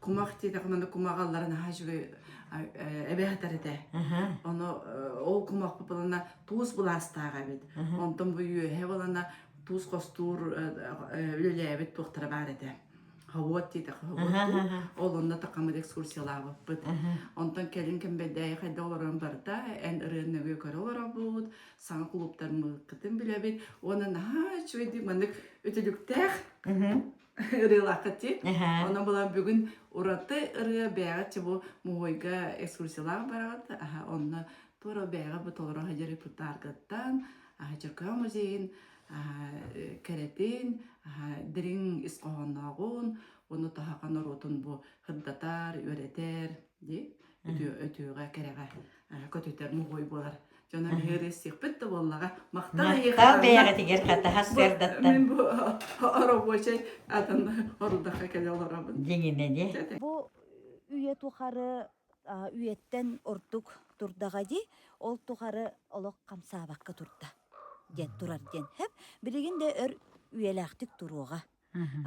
кумах диэтэххэ маны кумаҕы аллара наһаа үчүгэй эбэ сытар этэ ону ол кумах былана туус былаастааҕа эбит онтон бу үөһэ былана туус хостуур үлэлээбит туохтара баар этэ ховод диэтэххэ ховод ол онно такамыр экскурсиялаабыппыт онтон кэлин кэмбэйдээйи хайда олорон барда эн ырыанныгы көрө олоробут саҥа кулууптармыккытын билэбит уонна наһаа үчүгэйдик маннык үтүлүктээх ырыалаахаччы. Онон булан бүгүн ураты ырыа бэйэҕитчи бу муһуйга экскурсиялаах бараҕыт. Аха онно туора бэйэҕэ бу толору хадьары путааргаттан, аха Чөкөө музейин кэрэтин, аха дириҥ ис хоһооннооҕун, уну таһака норуотун бу хырдатар, үөрэтэр, ди өтүөҕэ кэрэҕэ. көтүтэр моһой буолар дьон аһыыры сиэппит да буоллаҕа махтал махтал бэйэҕитигэр хатаһас сыардаттан мин бу оробуочай атын орудахха кэлэ олоробун дьиҥинэни бу үйэ тухары үйэттэн ордук турдаҕа дии ол тухары олох хамсаабакка турда диэн турар диэн хэп билигин да өр үйэлээхтик туруоҕа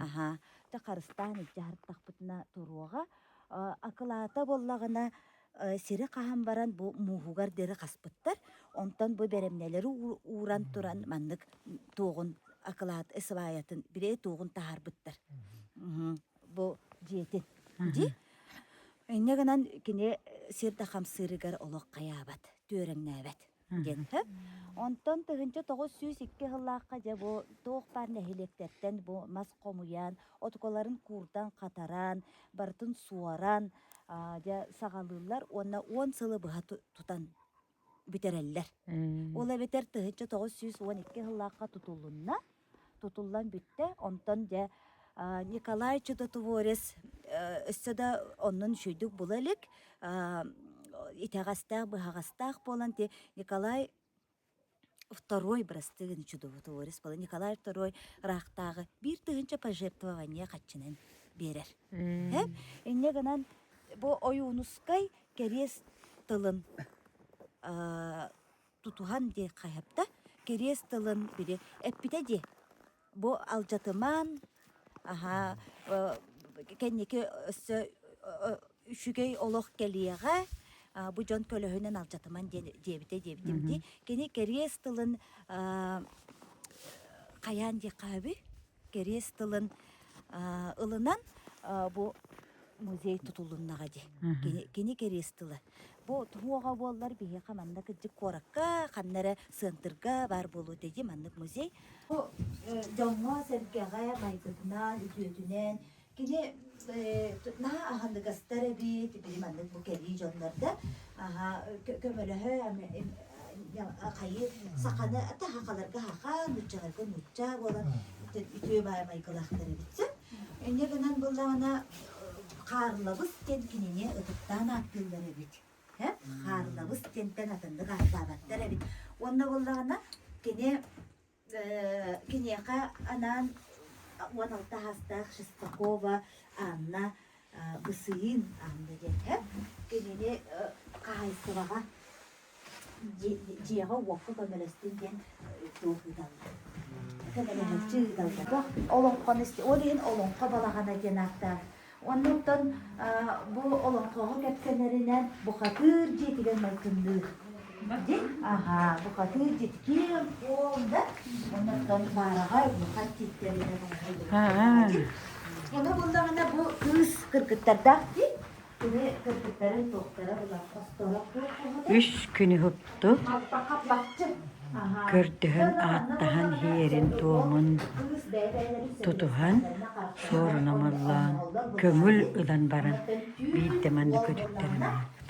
Аһаа, дьэ харыстаан илдьэ аһартахпытына туруоҕа. Э, акылаата буоллаҕына, э, сири хаһан баран бу мууһугар диэри хаспыттар. Онтон бу бэрэмнэлэри уу ууран туран маннык м, туоҕун акылаат сыбаайатын били туоҕун таһаарбыттар. Мгм. Бу дьиэтин. Дии. Инньэ гынан кини сир да хамсыырыгар олох хайаабат, түөрэҥнээбэт. диэнтэ. Онтон тыһыынча тоҕус сүүс икки сыллаахха дьэ бу туох баар нэһилиэктэртэн бу мас хомуйан, отукаларын куурдан хатаран, барытын суоран, аа, дьэ саҕалыыллар уонна уон сылы быһа ту- тутан бүтэрэллэр. Ол эбэтэр тыһыынча тоҕус сүүс уон икки сыллаахха тутулунна. тутуллан бүттэ. Онтон дьэ Николай Чудотворец өссө да оннун үчүйдүк була илик, итэҕэстээх, быһаҕастаах буолан ти Николай второй бырастыгын чудотворец буолан Николай второй ыраахтааҕы биир тыһынча пожертвование хаччынан биэрэр. Инньэ гынан бу Ойуунускай кэриэс тылын тутуһан диэн хайыпта, кириэс тылын били эппитэ дии. Бу алдьатымаан, аһаа, э, кэнники өссө үчүгэй олох кэлиэҕэ, а, бу дьон көлөһүнэн алдьатыман диэн диэбитэ диэбитим дии. Кини кириэс тылын, а, хайаан диэххэ үһүүй? кэриэс тылын ылынан бу музей тутулуннаҕа дии. Кини кини кэриэс тыла. Бу туһуоҕа буоллар биһиэхэ манна кырдьык куоракка ханна эрэ сыантырга баар буолуо дии маннык музей. Бу дьоҥҥо-сэргэҕэ майгытынан, үтүөтүнэн Кини наһаа аһыныгастар эбит, били маннык бу кэлии дьоннор да аһа көмөлөһө хайы саханы таһахаларга аха, нуччаларга нучча буолан үтүө баай майгылаахтар эбит. Инньэ гынан былаана Хаарлабыс диэн кинини ытыктаан ааттыыллар эбит. Хаарлабыс диэнтэн атыннык ааттаабаттар эбит. Уонна былаана кини Киниэхэ анаан уон алтаһаастаах Шестакова Анна Бысыын Анна диэҥҥэ кинини хаһаайыстыбаҕа дьиэҕэ-уокка көмөлөстүн диэн суох ыыталлар. Көмөлөһөлчү ыыталлар. Олоҥхо ол иһин Олоҥхо балаҕана диэн ааттаах Оннуктан бу олоҥхоҕо кэпсэнэринэн, бухатыыр дьиэтигэр майгынныыр. Дьин, аһаа, бухатыыр дьити ким, уол да? Оннуктан баараҕай бухат тииттэринэн оҥоһуллубут. Ону буллаҕына бу кыыс кыргыттардаах дии. Кини кыргыттарын туохтара булан хостоорох буолбута. Үс күн уһук көрдөһөн ааттаһан иһэрин-туомун тутуһан суорунамаллаан көҥүл ылан баран биирдэ манна көтүттэрэн аахпыт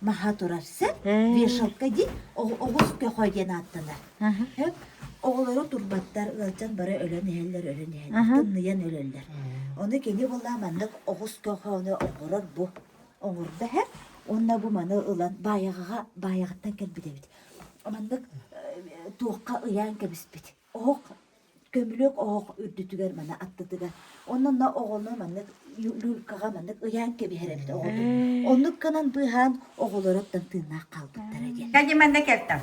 маһа турар сэп, вешалка диэн оҕус көхө диэн ааттанар. Оҕолору турбаттар, ыалдьан бары өлөн иһэллэр, өлөн иһэллэр, тымныйан өлөллөр. Оны кини була маннык оҕус көхөөнү оҥорор бу оҥордо һэ уонна бу маны ылан баайаҕаҕа баайаҕыттан кэлбит эбит. Маннык туохха ыйаан кэбиспит. Оһох көмүлүөк оһох үрдүтүгэр маны аттытыгар онно на оҕону маннык люлькаҕа маннык ыйаан кэбиһэр эбит оҕотун оннук гынан быыһаан оҕолоруттан тыыннаах хаалбыттара диэн Кэлди манна кэлтем.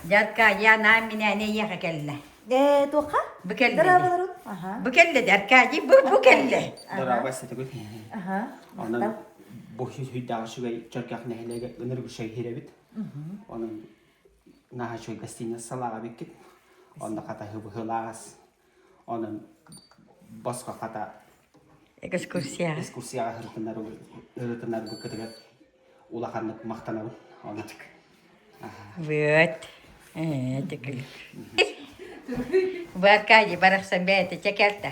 Дядька, я нам меня не ехать кэллэ. Э, туохха? Бу кэллэ. Дыраабаларын? Аха. Бу кэллэ, Дядькади, бу бу кэллэ. Дорааба сетегүт миһи. Аха. Онон бу сүүйдәҕи шүгэй чөркөх нэһилеге ыныргы шайхиребит. Онон наһаа үчүгэй гостиница салаах эбиккит онно хата быһыылаах онон босхо хата экскурсия экскурсияҕа ырытынар ырытынарбыккытыгар улаханнык махтанабын оннук вот бу аркадий барахсан бэйэтэ чэкэртэ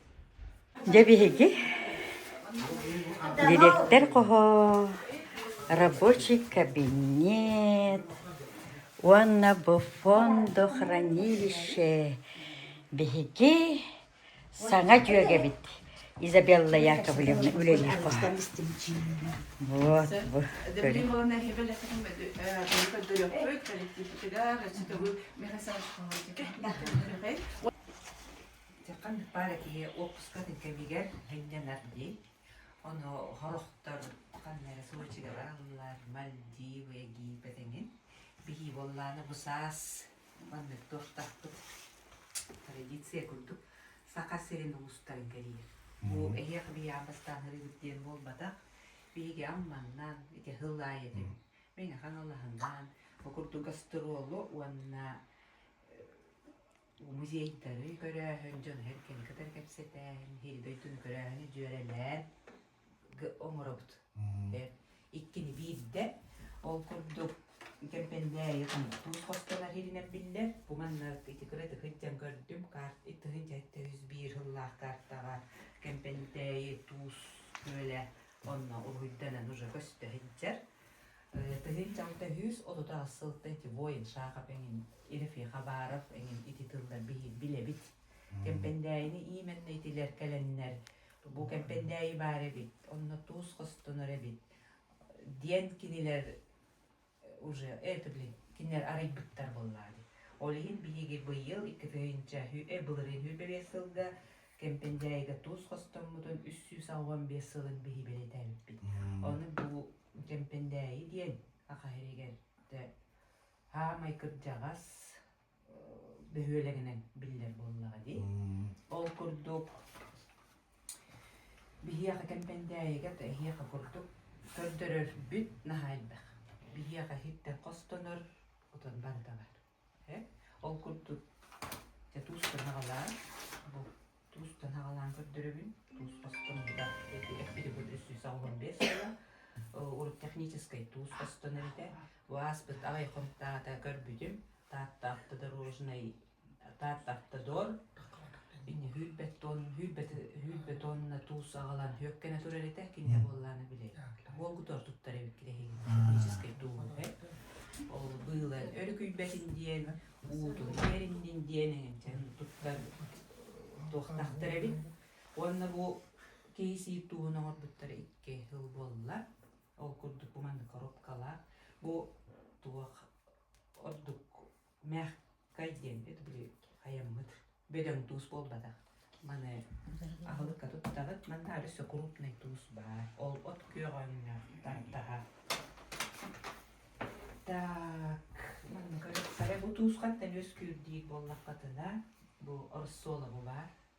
Дьэ биһиги дириэктэр хоһоо, рабочий кабинет уонна буфондо хранилище биһиги саҥа дьүөгэбит Изабелла Яковлевна үлэлиир хоһо. Вот бу көрүҥ. Ити ханнык баара киһи уоппускатын кэмигэр сынньанар дии. Ону сорохтор ханна эрэ суочуга бараллар, Мальдивы гийбэт эҥин. Биһии буоллааны бу саас маннык туохтаахпыт традиция курдук Саха сирин улуустарын кэрийэр. Бу эһиэхэ быйаам бастаанырыыбыт диэн буолбатах. Биһиги Амманнан ити сыл аайы этим. Мин Хаҥалаһынан бу курдук гастролу уонна музейдары көрөөһүн, дьон-иһин кини кытары кэпсэтэн, иһи-дойдуну көрөөһүнү дьүөрэлээн оҥоробут. Иккини биирдэ. Ол курдук Кэмпэндээйи туус хостонор иһинэн биллэр. Бу манна ити кыратык итдьэн көрдүм. Карт итиһинчэ сэттис биир сыллаах картаҕа Кэмпэндээйи туус күөлэ онно уруһуйданан уже көстө сылдьар. Тыһыынча алта сүүс отут аҕыс сылта ити воин Шахов эҥин, Ирефий Хабаров эҥин ити тыллар билэбит. Кэмпэндээйини иимэннэ итилэр кэлэннэр бу кэмпэндээйи баар эбит, онно туус хостонор эбит диэн кинилэр уже это блин кинилэр арыйбыттар буоллаҕа дии. Ол иһин биһиги быйыл икки тыһыынча былырыын үбэлиэ сылга Кэмпэндьээйигэ туус хостоммутун үс сүүс уон биэс сылын биһи бэлэтээбиппит. Ону бу Кэмпэндээйи диэн Аха сиригэр саамай кырдьаҕас бөһүөлэгинэн биллэр буоллаҕа дии. Ол курдук биһиэхэ Кэмпэндээйигэ эһиэхэ курдук көрдөрөрбүт наһаа элбэх. Биһиэхэ иһиттэн хостонор отон барыта баар. Ол курдук туустан аҕалаан бу туустан аҕалаан көрдөрөбүн. Туус хостон да эппитибут үс сүүс оҕолон биэс сыла. Урут техническэй туус хостоно этэ. Бу ааспыт аҕай хонтаата көрбүтүм. Таатта автодорожнай Таатта автодор Үүрбэт сыҕаланна туус саҕалаан сүөккэнэ турар этэ кинигэ буоллаана били буолгутор туттар эбит кирэһигин техническэй дуоһу ол быылан өрүкүйбэтин диэн уутун биэриннин диэн эҥинтэн туттар туохтахтар эбит уонна бу киисии тууһун оҥорбуттара икки сыл буолла ол курдук буманна коробкалаах бу туох ордук Мягкай диэммит били айаммыт бөдөҥ туус буолбатах. Маны аһылыкка туттаҕыт. Манна өссө крупный туус баар. Ол от күөҕөҥҥө тартаһа. Так, манна көрө бу туус хантан үөскүүр диир буоллаххытына, бу Орсолову баар.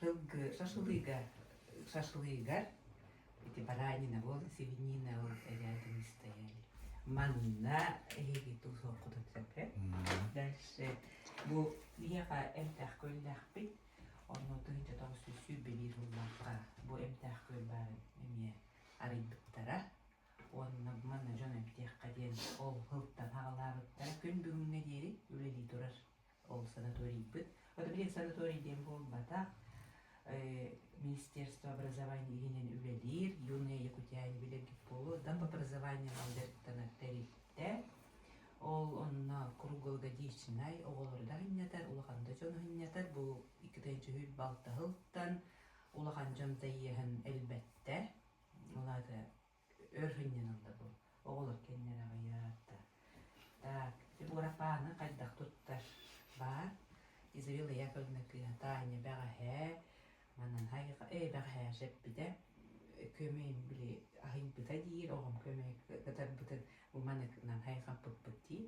тылгы шашлыга шашлыгар ити баранина буол свинина ол рядом стояли манна эһиги туусуоххутут сөпө дальше бу биһиэхэ эмтээх көллэхпит онно тыһыынча тоҕус сүүс сүүрбэлиир буллахха бу эмтээх көл баарын эмиэ арыйбыттара уонна манна дьон эмтиэххэ диэн ол сылтан аҕалаабыттара күн бүгүҥҥэ диэри үлэлии турар ол санаторийбыт. Вот, блин, санаторий диэн буолбатах. Министерство образования иһинэн үлэлиир Юная Якутия билэргит буолуо там по образованию алдыртанар тэрилтэ ол онно круглогодичнай оҕолорда хынньатар улаханды дьону хынньатар бу иккитен чүһүл балта хылтан улахан дьон тайыһын элбетте улаата Өр сынньан ылла бу. Оҕолор кэннинэ аҕыйаат да. Так, ити Буурапааны хайдах туттар? Баар. Изавела Яковлевна кыыһа Таня бэҕэһээ, манан хайыха, ээ бэҕэһээ сэппитэ. Көмөйүн били аһыйбыта диир, оҕом көмө кытарбытын бу маныкынан хайҕаппыппыт дии.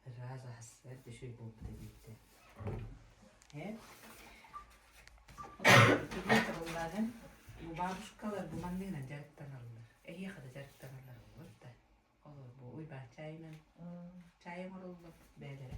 Ыраас ас, эр дүшүл буолбута диэбитэ. Эн Итилии табылларын бу бабушкалар бу манныгына дьарыктаналлар. Эһиэхэ да дьарыктаналлар болот да. Олор бу Уйбаан чайынан чай оҥороллор бэйэлэрэ.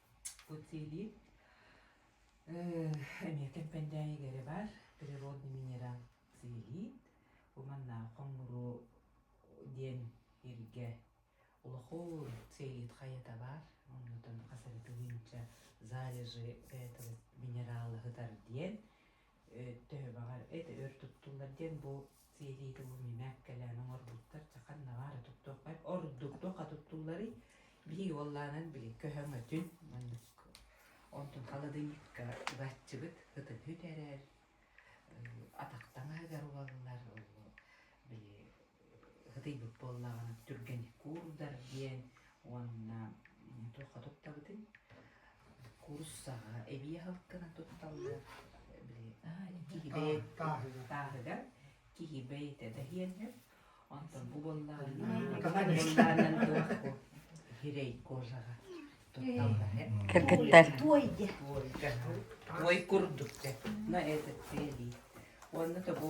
Буцилий эмиэ Кэмпэндээйигэ эрэ баар природный минерал силилиит уманнаах хоҥнуруу диэн иргэ улахуун силилиит хайата баар оннутун хас эрэ тыһыынча залежи этого минерала сытар диэн төбөҕө эт өр туттуллар диэн бу сиэриигэ бу мимэк кэлээн оҥорбуттар чэ ханна баара туттуохха ордук туохха туттулларый биһиги уоллаанан били көһөҥ өтүн маннык онтун халадыйыыкка ылаччыбыт ытыһыт эрэр атах таҥаһыгар уоллар били ытыйбыт буоллаҕына түргэни куурдар диэн уонна туохха туттабытын куурус саҕа эбии алтынан тутталлар били киһибэй тааһыгар киһибэй этэ дэһиэллэр онтон бу буоллаҕына туохку хирэй кожаҕа кыргыттар туой курдук дэ на этот цели уонна тобо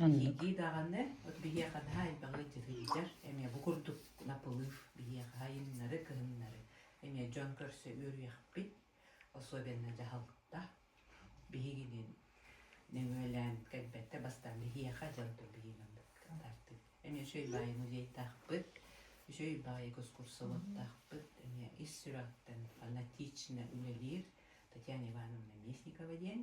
Дии-дии даҕаны, от биһиэхэ наһаа элбэҕи дьүһүйдэр, эмиэ бу курдук лапылыыр биһиэхэ айаннары, кыһыннары эмиэ дьон көрсө үөрүйэхпит, особенно дьаһалта биһигинин нөҥүөлээн кэлбэттэ бастаан биһиэхэ дьалта биһигинэн тардыы. Эмиэ үчүгэй баайы музейдаахпыт, үчүгэй баайы кускурсоводтаахпыт, эмиэ ис сүрэҕиттэн фанатично үлэлиир Татьяна Ивановна Местникова диэн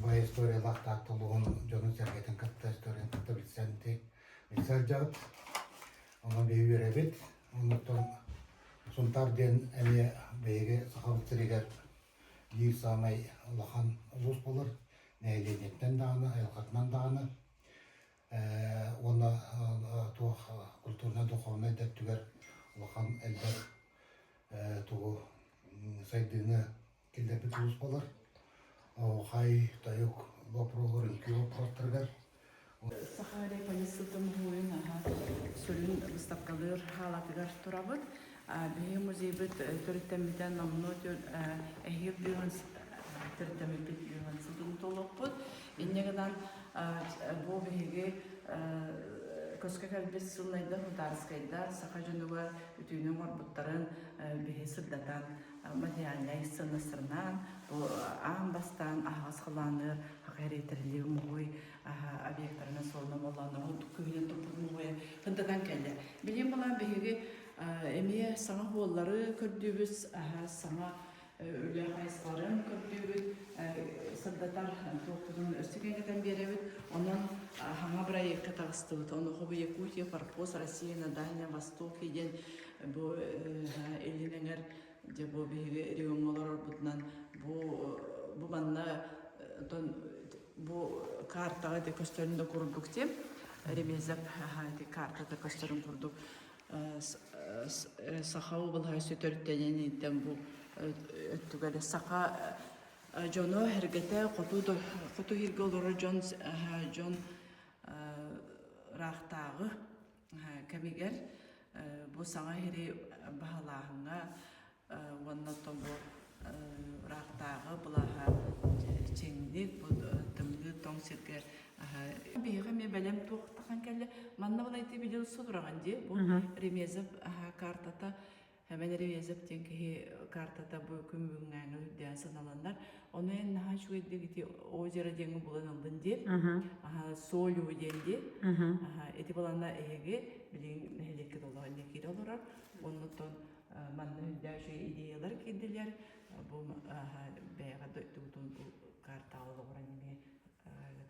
бу историялаах таатталугун дьонун-сэргэтин кытта историятын кытта билсэн билсэн сылдьабыт ону үөрэбит онуттан сунтаар диэн эмиэ биһиги сахабыт сиригэр биир саамай улахан улуус болор нэһилиэнньэттэн даҕаны айылҕатынан даҕаны уонна туох культурнай духовнай да өттүгэр улахан элбэх тугу сайдыыны Киллэрбит сулууспалар оһуохай, тойук боппуруоһлар үҥкүү боппуруостарыгар Саха Реполиссытын муһуойун аһа сүрүн быыстапкалыыр хаалатыгар турабыт. Биһиги музейбыт төрүттэммитэ номнуо эһиил дьүһүн төрүттэммиппит дьүһүн ситим толоппут. Инньэ гынан бу биһиги көскө кэлбит сылнайда Хутарскайда саха дьонугар бүтүүнү оҥорбуттарын биһи сырдатан мадьаанньай сыннастарынаан аан бастаан аһаҕас халааныар хахэриэтэрилиир мугуй объектарынан суолунан молоонно ордук күһүнэн туппут мугуйа кындатан кэллэ билиэн балаан биһиги эмиэ саҥа уоллары көрдүүбүт саҥа үлэ хайысхаларын көрдүүбүт сырдатар туохпутун өссө кэҥэтэн биэрэбит онон хаҥа бырайыакка таҕыстыбыт онуоха Якутия форпост Россия на Дальнем Востоке диэн Бу илин эҥэр дьэ бу биһиги региоҥҥа олорорбутунан бу бу манна отон бу картаҕа ити көстөрүн да курдук тим ремезов ити картата көстөрүн курдук саха облаһа төрүттэнэн иттэн бу өттүгэл саха дьоно эргэтэ хоту хоту иһиргэ олорор дьон дьон ыраахтааҕы кэмигэр бу саҥа иһири баһылааһыҥҥа уонна тобук ыраахтааҕы былаһа чиҥник бу тымныы тоҥ сиргэ биһиги эмиэ бэлэм туохтахан кэллэ манна балайда билил сутураҕын дии бу ремезов картата Эбэн Ревезов диэн киһи картата бу күн бүгүҥҥээҥҥэ үрдээн саналанар. Ону эн наһаа үчүгэйдик ити озеро диэҥи булан ыллын диэн. Аха. Аха Солю диэн диэн. Аха. Аха ити баланна эһиги билигин нэһилиэккэ толоон не кире олорор. Оннуттан манна үрдээши идеялар киирдилэр. Бу аха бэйэҕэ дойдутун карталы олорон эмиэ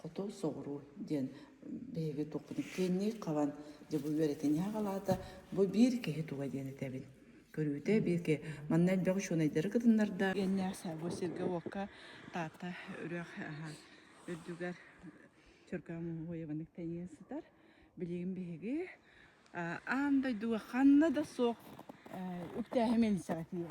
хоту соҕуруу диэн биһиги туохпутун киэннии хабан дьэ бу үөрэтин хаалаата бу биир киһи туга диэн этэбин көрүүтэ биирки манна элбэх учуонайдары кытыннарда геннээх бу сиргэ уокка таата үрэх үрдүгэр чөркө муһуйабаннык тэнийэн сытар билигин биһиги аан дойдуга ханна да суох үптээһи мэлисэҕэ тиийэ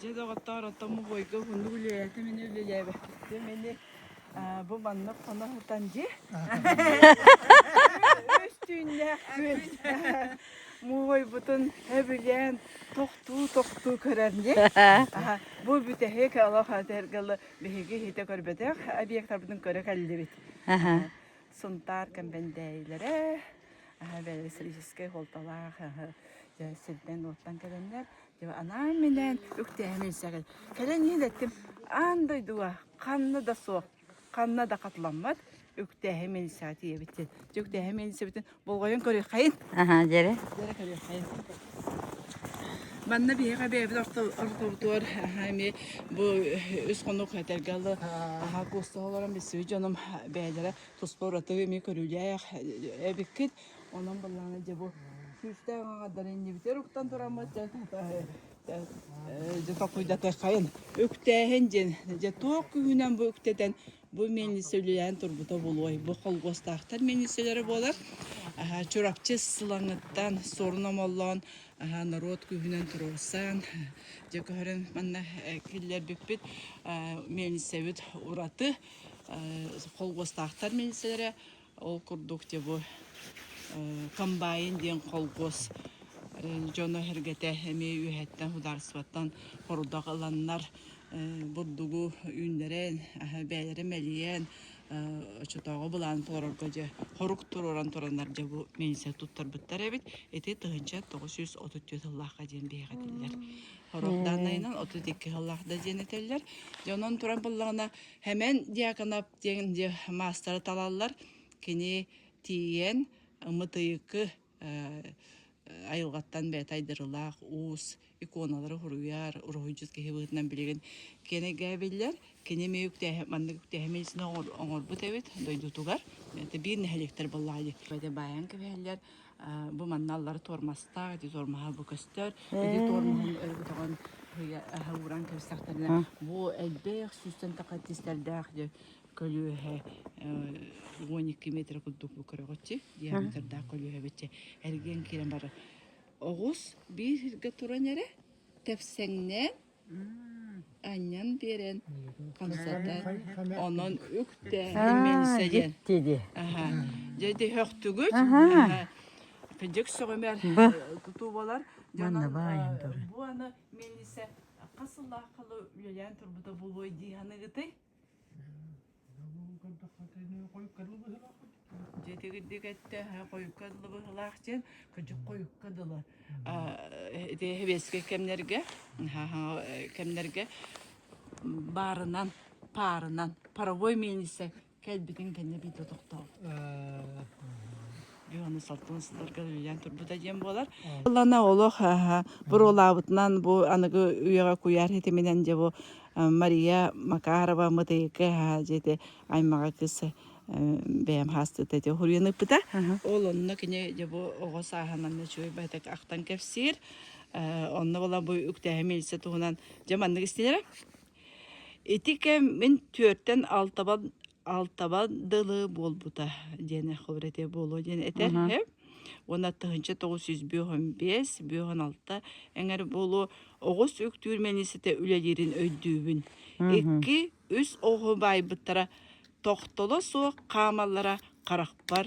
Дьэ, доҕоттоор, оттон бубуойга хонук үлэлээтэ мини үлэлээбэккиттиэм ини бу маннык хоно сытан дьи үс түүннээх күн муовайбутун өбүлээн тохтуу тохтуу көрөн дии бу бүтэһик олох атыргылы биһиги иһитэ көрбөтөх объектарбытын көрө кэллибит Сунтаар кэмбэндээйилэрэ электрическэй суолталаах дьэ сирдэн-уоттан кэлэннэр дьэ анаан-минээн үктээһин илсэҕин. Кэлэн иилэттим аан дойдуга ханна да суох, ханна да хатыламмат үктээһин милисаа тиийэбит диэн. Дьэ үктээһин милисэбитин болҕойон көрүөххэйин аха дьэрэ дьэрэ көрүөххэйин манна биһиэхэ бэйэбит ортоботугар эми бу үс хонук этэргэ алы аха куусталарым биссүү дьонум бэйэлэрэ туспа ураты эми көрүүлээх эбиккит онон баллаана дьэ бу сүүстээх аңадары иннибитер уктан тураммыт же толкуйдатыаххайын үктээһин дьин же туох күһүнэн бу үктэтэн Бу мэнисэ үлэлээн турбута булуой. Бу холгуостаахтар мэнисэлэрэ буолар. Аһа, Чурапчы сыланыттан сорун омоллоон, аһа, норуот күүһүнэн туруорсан, дьэ көһөрөн манна киллэрбиппит мэнисэбит ураты холгуостаахтар мэнисэлэрэ Ол курдук те бу комбайн диэн холкуос дьоно эргэтэ эмиэ үөһэттэн судаарыстыбаттан хорудах ыланнар бурдугу үүннэрэн бэйэлэрэ мэлийэн оччотооҕу былааны толорорго дьэ хорук туруоран тураннар дьэ бу милиция туттарбыттар эбит ити тыһынча тоҕус жүз отут түөрт сыллаахха диэн биһиэхэ этиллэр хорох даанайынан отут икки сыллаах да диэн этэллэр дьэ онон туран буллаҕына Хэмэн Дьяконов Тиэн дьэ маастары талаллар. Кини тиийэн мытыйыкы айылҕаттан бэйэтэ айдарылаах уус иконалары уруйар, уруһуйдьут киһи быһыытынан билигин киэнэгээбиллэр. Кини эмиэ үктээһи маннык үктээһими ичинэ оҥорбут эбит дойдутугар. Биир нэһилиэктэр буоллаҕа диэбиппитэ баайан кэбиһэллэр. бу манна аллара туормастаах, ити туормаһа бу көстөр, ити туормаһын өрө көтөҕөн аһа ууран кэбистэхтэринэ, бу элбэх сүүстэн таха тистэрдээх дьэ көлүөһэ уон екі метрэ курдук бу көрөҕүтчү диаметрдаах көлүөһэ бычча эргиэн киирэн барар оҕус бииргэ туран эрэ тэпсэҥнээн анньан биэрэн хамсата онон үктээминсэ диэн дьикти дии аха дьэ дөһөхтүгүт аха кыдьык сөҕүмэр тутуубалар манна баайан бу аны мин ise хас сыллаах халы үлэлээн турбута буолуой дии саныгытый Дьэ итигирдик этте хойукка дылы быһылаах диэн кыдьык хойукка дылы эбиэскэ кэмнэргэ кэмнэргэ баарынан паарынан паровой миэнисэ кэлбитин кэннэ бит тохтообут аны салтын сылларга үлэлээн турбута диэн буолар. Ыллана олох буруолаабытынан бу аныгы үйэҕэ куйаар хитиминэн дьэ бу Мария Макарова Мытыйыкы дьиэти аймаҕа кыс бэйэм хаастыта те хуруйан ыппыта. Ол онно кини дьэ бу оҕо сааһынан нөчөй байтак ахтан кэпсиир. Онно була бу үктээһим илсе туһунан дьэ маннык истинэрэ. Ити кэм мин түөртэн алтабан алтабан дылы буолбута диэн хобор этэ буолуо диэн этэр уонна тыһынча тоҕус жүз бүөһөн бес бүөһөн алта эҥэр буолуо оҕус үктүүр мэнисите үлэлиирин өйдүүбүн икки үс оҕо баайбыттара тохтоло суох хаамаллара харахпар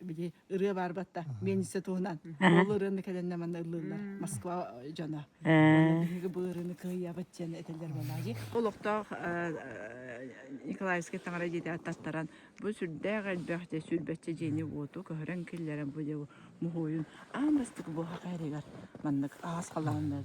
били ырыа баарбатта менисе туһунан ол ырыаны кэлэннэ манна ыллылар москва дьоно биһиги бу ырыаны кыайабыт диэн этэллэр балаги олохтоох николаевский таҥара дьиэтэ аттаттаран бу сүрдээх элбэх де сүрбэччэ дьиэни уоту көһөрөн киллэрэн бу дьэ муһуойун аан бастык бу хакайрыгар маннык аас халааннар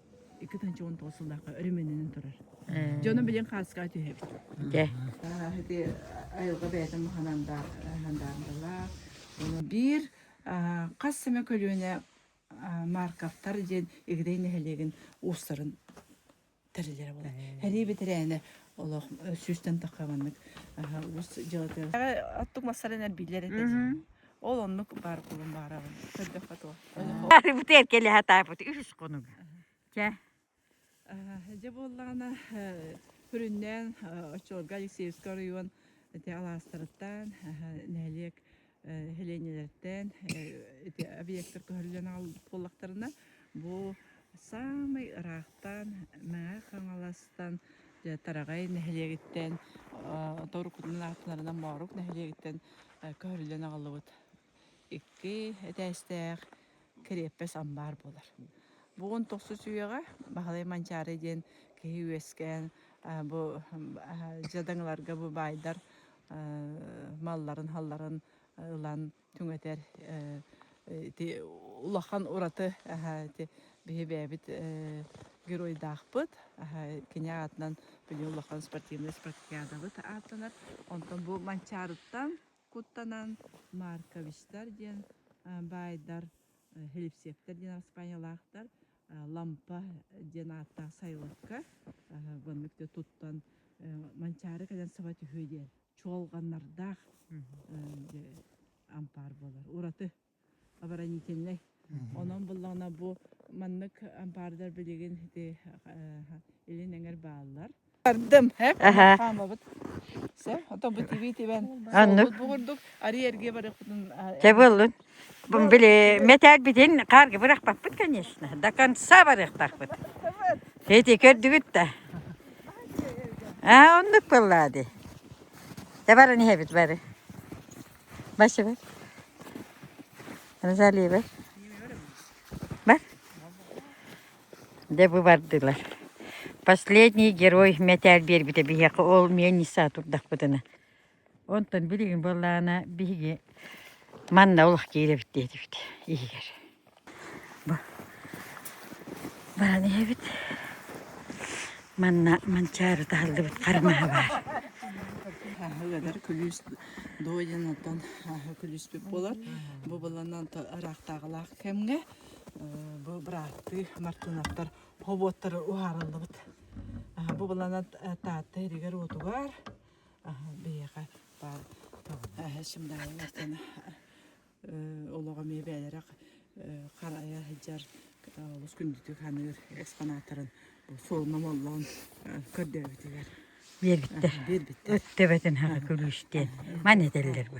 Икки тыһыынча уон тоҕус сыллаахха өрөмүөннэнэн турар. Дьону билин хааска түһэбит. Дьэ. Ити айылга бэйэтин маханандалаах. Биир хас сэмэ көлүөнэ Марковтар диэн Игдэй нэһилиэгин уустарын тэрилэрэ болар. Хәрии бэтэрээнэ олох сүүстэн таххаманнык уус дьылыты. Аттык массарынан билэр этэ. Ол оннук баар буолан баарабын. Көрдөххө туох. Арыбыт эркелеһэ таапыт үһүс конуга. Чэ. Дьэ буоллаҕына күрүннээн Оччолго Алексеевский оройуон ити алаастарыттан нэһилиэк нэһилиэнньэлэртэн ити объектар көһөрүллэн аҕалбыт буоллахтарына бу Саамай ыраахтан Мэҥэ Хаҥаластан, дьэ Тараҕай нэһилиэгиттэн, Отор кутунан аатынарынан Моорук нэһилиэгиттэн көһөрүллэн аҕаллыбыт икки этээстээх кэриэппэс амбаар буолар. Бу он тохсус үйэҕэ Баһылай Манчаары диэн киһи үөскээн бу дьадаҥыларга бу баайдар малларын-халларын ылан түҥэтэр ити улахан ураты ити биһи бэйэбит геройдаахпыт кини аатынан били улахан спортивнай спартакиадабыт ааттанар онтон бу манчаарыттан куттанан марковичтар диэн баайдар хлебсектор диэн аспаанньалаахтар лампа диэн ааттаах сайлакка манчаары кэлэн саба түһүө диэн чуолҕаннардаах ампаар буолар. Ураты оборонительнай. Онон буллаҕына бу маннык ампаардар билигин ити илин эҥэр бааллар. Бардым, хаамабыт. Все, ото бу тиви тибэн. Оннук. Бу курдук арый эрге барыппытын. Те буллун. Били мэтээкбитин хаарга бырахпаппыт, конечно. До конца барыахтаахпыт. Эти көрдүгүт да. А оннук буоллаа дии. Да баран иһэбит бары. Бачыбар. Розалия бар. Бар? Де бу бардылар. Последний герой мэтээл биэрбитэ биһиэхэ ол мен нисаа турдахпытына. Онтон билигин буоллаҕына биһиги манна олох киирэбит диэтибит иһигэр. Баран иһэбит. Манна Манчаары таһыллыбыт хармаһа баар. Ыгадар күлүүс дойдын оттон күлүүспүт болар. Бу баланан арақтағылақ кемге бу быраатты мартынаттар хоботтар уһарыллыбыт. Бу баланат таатта иригер отугар биһиэхэ баар олоҕо эмиэ бэйэлэрэ харайа сылдьар олус күндүтүк саныыр экспонаттарын суол номоллоон көрдөөбүтүгэр биэрбиттэр өттөбөтүн хаһы күлүүстэн маны этэллэр бу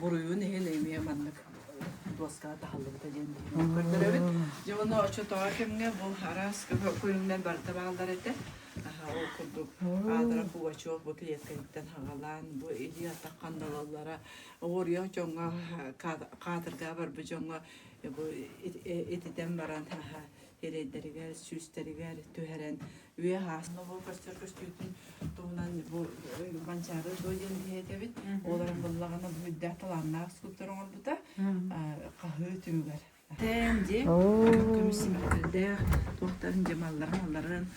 буруйун иһин эмиэ маннык дуоскаҕа таһыллыбыта диэн көрдөрөбүт. Дьэ ону оччотооҕу кэмҥэ бу араас көрүҥнэр барыта бааллар этэ. Ол курдук аадара кугачев бу клетканиттан хаҕалаан бу идея таххан далаллара оҕоруйа дьоҥҥо каатыргаа барбыт дьоҥҥо бу ититэн баран эрэйдэригэр, сүүстэригэр түһэрэн үйэ аасын оҕо көрсөр көстүүтүн туһунан бу Банчары дуо диэн иһэтэбит. Олорон буллагана бу үрдээх талааннаах скульптор оҥорбута хаһыы түмүгэр. Тээн дьиэ көмүс симэктэрдээх туохтарын дьамалларын алларын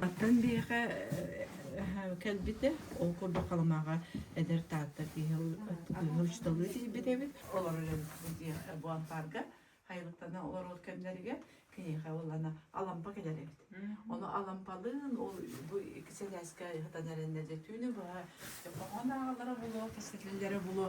Аттан биһиэхэ кэлбитэ. Ол курдук Халымаҕа эдэр Таатта киһи учууталыы тиийбит эбит. Олор өлөн диэхэ бу ампаарга хайҕыттана олорор кэмнэригэр киниэхэ ылана Алампа кэлэр эбит. Ону Алампалыын ол бу икки сэлээскэ ыһытан эрэннэрдэ түүнү быһа хоһоон ааҕалара булуо, кэскиллэрэ булуо.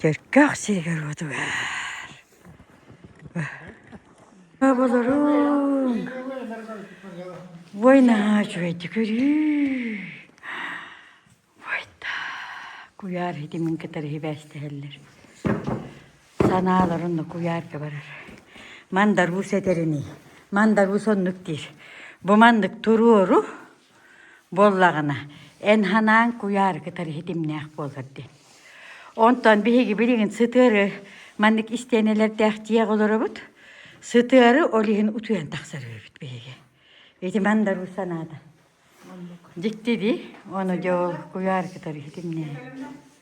Чөркөөх сиригэр-уоту Оболоруун! Ой, наһаа үчүгэйдик өрүү! Ойда, куйаар итимин кытары сибээстэһэллэр. Санаалар онно куйаарга барар. Мандарус этэринии, мандарус оннук диир. Бу маннык туруору, Буоллаҕына, эн санааҥ куйаары кытары ситимнээх буолар диэн. Онтон биһиги билигин сытыары маннык истиэнэлэрдээх тиэх олоробут. Сытыары ол иһин утуйан тахсар үһүбүт биһиги. Ити мандаруу санаата. Дьикти дии, ону дьэ ол куйаары кытары ситимнээн.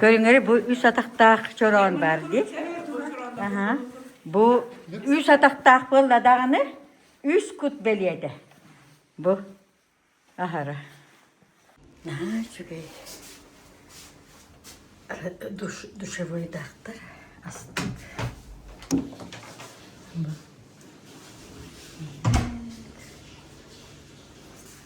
Көрүҥэр бу үс атахтаах чороон баар дии. Аха. Бу үс атахтаах буолла даҕаны, үс кут бэлиэтэ. Бу аһара. Аа, үчүгэй. Душ, душевой дактар астык.